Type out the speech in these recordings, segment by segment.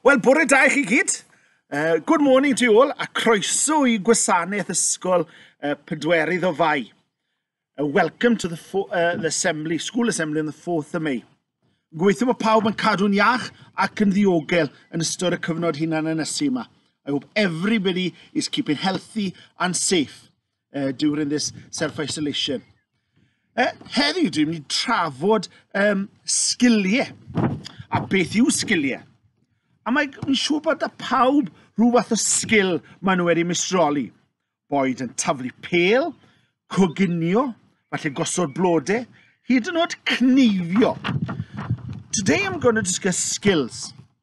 Wel, bore da i chi gyd. Uh, good morning to you all, a croeso i gwasanaeth ysgol uh, Pedwerydd o Fai. Uh, welcome to the, uh, the assembly, school assembly on the 4th of May. Gweithio bod pawb yn cadw'n iach ac yn ddiogel yn ystod y cyfnod hunan ynysu yma. I hope everybody is keeping healthy and safe. uh, during this self-isolation. Uh, heddiw, dwi'n mynd i trafod um, sgiliau. A beth yw sgiliau? A mae'n mi siŵr bod y pawb rhyw fath o sgil maen nhw wedi misroli. Boed yn taflu pel, coginio, falle gosod blodau, hyd yn oed cneifio. Today I'm going to discuss skills.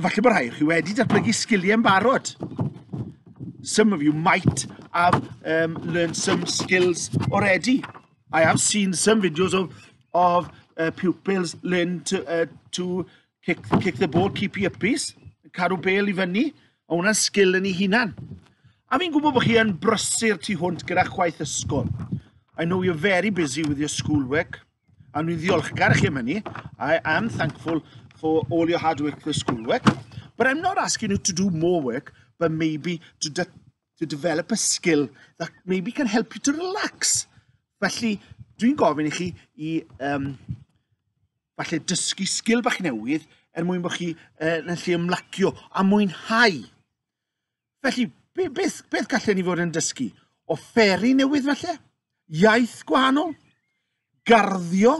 Efallai bod rhai chi wedi datblygu sgiliau yn barod. Some of you might have um, learned some skills already. I have seen some videos of, of uh, pupils learn to, uh, to kick, kick the ball, keep your peace, cadw bel i fyny, a hwnna'n sgil yn ei hunan. A fi'n gwybod bod chi yn brysur tu hwnt gyda chwaith ysgol. I know you're very busy with your schoolwork. A dwi'n ddiolchgar chi am hynny. I am thankful for all your hard work for school work. But I'm not asking you to do more work, but maybe to, de to develop a skill that maybe can help you to relax. Felly, dwi'n gofyn i chi i um, falle dysgu sgil bach newydd er mwyn bod chi uh, yn lle ymlacio a mwynhau. Felly, be, beth, beth gallen ni fod yn dysgu? O fferi newydd felly? Iaith gwahanol? Garddio?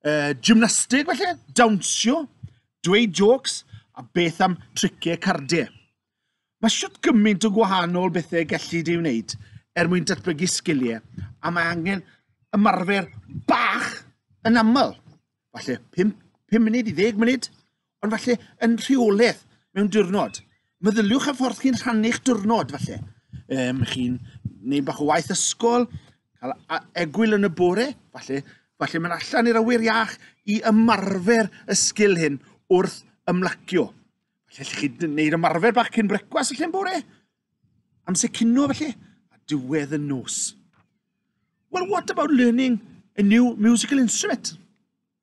E, gymnastig felly? Dawnsio? Dweud jokes? A beth am triciau cardiau? Mae siwt gymaint o gwahanol bethau gallu di wneud er mwyn datblygu sgiliau a mae angen ymarfer bach yn aml. Falle 5, 5 munud i 10 munud ond falle yn rheoledd mewn diwrnod. Meddyliwch ar ffordd chi'n rhannu'ch diwrnod falle. Um, chi'n neud bach o waith ysgol, cael egwyl yn y bore, falle, falle mae'n allan i'r awyr iach i ymarfer y sgil hyn wrth ymlacio. Falle allwch chi wneud ymarfer bach cyn brecwas y lle'n bore, amser cino felly, a diwedd y nos. Well, what about learning a new musical instrument?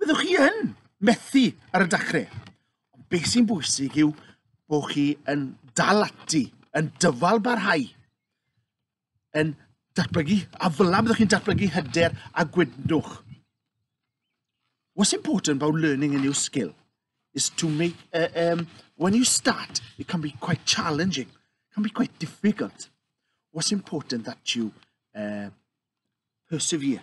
Byddwch chi yn methu ar y dachrau. Ond beth sy'n bwysig yw bod chi yn dal ati, yn dyfal barhau, yn datblygu, a fel am byddwch chi'n datblygu hyder a gwydnwch. What's important about learning a new skill is to make, uh, um, when you start, it can be quite challenging, it can be quite difficult. What's important that you uh, persevere.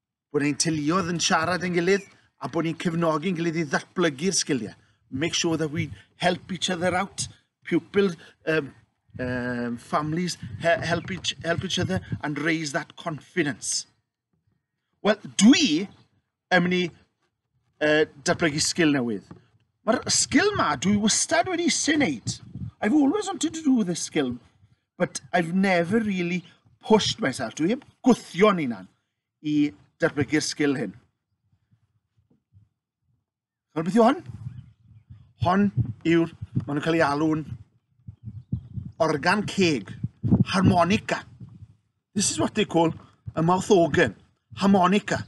bod ein teuluoedd yn siarad yn gilydd a bod ni'n cefnogi'n gilydd i ddatblygu'r sgiliau. Make sure that we help each other out, pupils, um, um, families help each, help each other and raise that confidence. Wel, dwi yn mynd i uh, datblygu sgil newydd. Mae'r sgil ma, dwi wastad wedi sy'n neud. I've always wanted to do this skill, but I've never really pushed myself. Dwi heb gwthio'n unan i datblygu'r sgil hyn. Chwbeth beth yw hon? Hon yw'r, maen nhw'n cael ei alw'n organ ceg, harmonica. This is what they call a mouth organ, harmonica.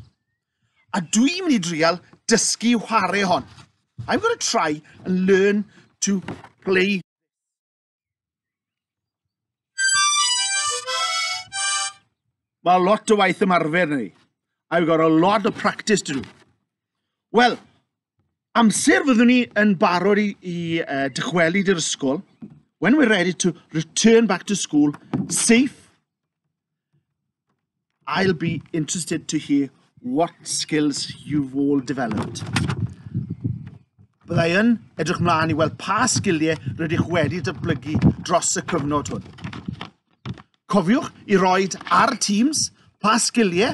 A dwi mynd i drial dysgu whare hon. I'm going to try and learn to play Mae lot o waith ymarfer ni. I've got a lot of practice to do. Wel, amser fyddwn ni yn barod i, i uh, dychwelyd i'r ysgol, when we're ready to return back to school safe, I'll be interested to hear what skills you've all developed. Byddai yn edrych mlaen i weld pa sgiliau rydych wedi dyblygu dros y cyfnod hwn. Cofiwch i roed ar Teams pa sgiliau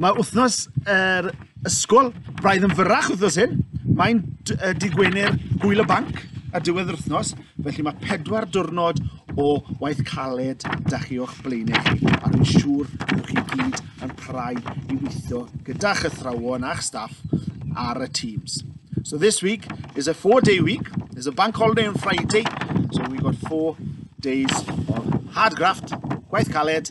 Mae wythnos yr ysgol braidd yn fyrrach wythnos hyn. Mae'n dy Gwener gwyl y banc a diwedd yr wythnos, felly mae pedwar diwrnod o waith caled da chi o'ch blaenau chi, a dwi'n siŵr bod chi gyd yn prai i weithio gyda'ch athrawon a'ch staff ar y Teams. So this week is a four-day week. There's a bank holiday on Friday. So we've got four days of hard graft, gwaith caled,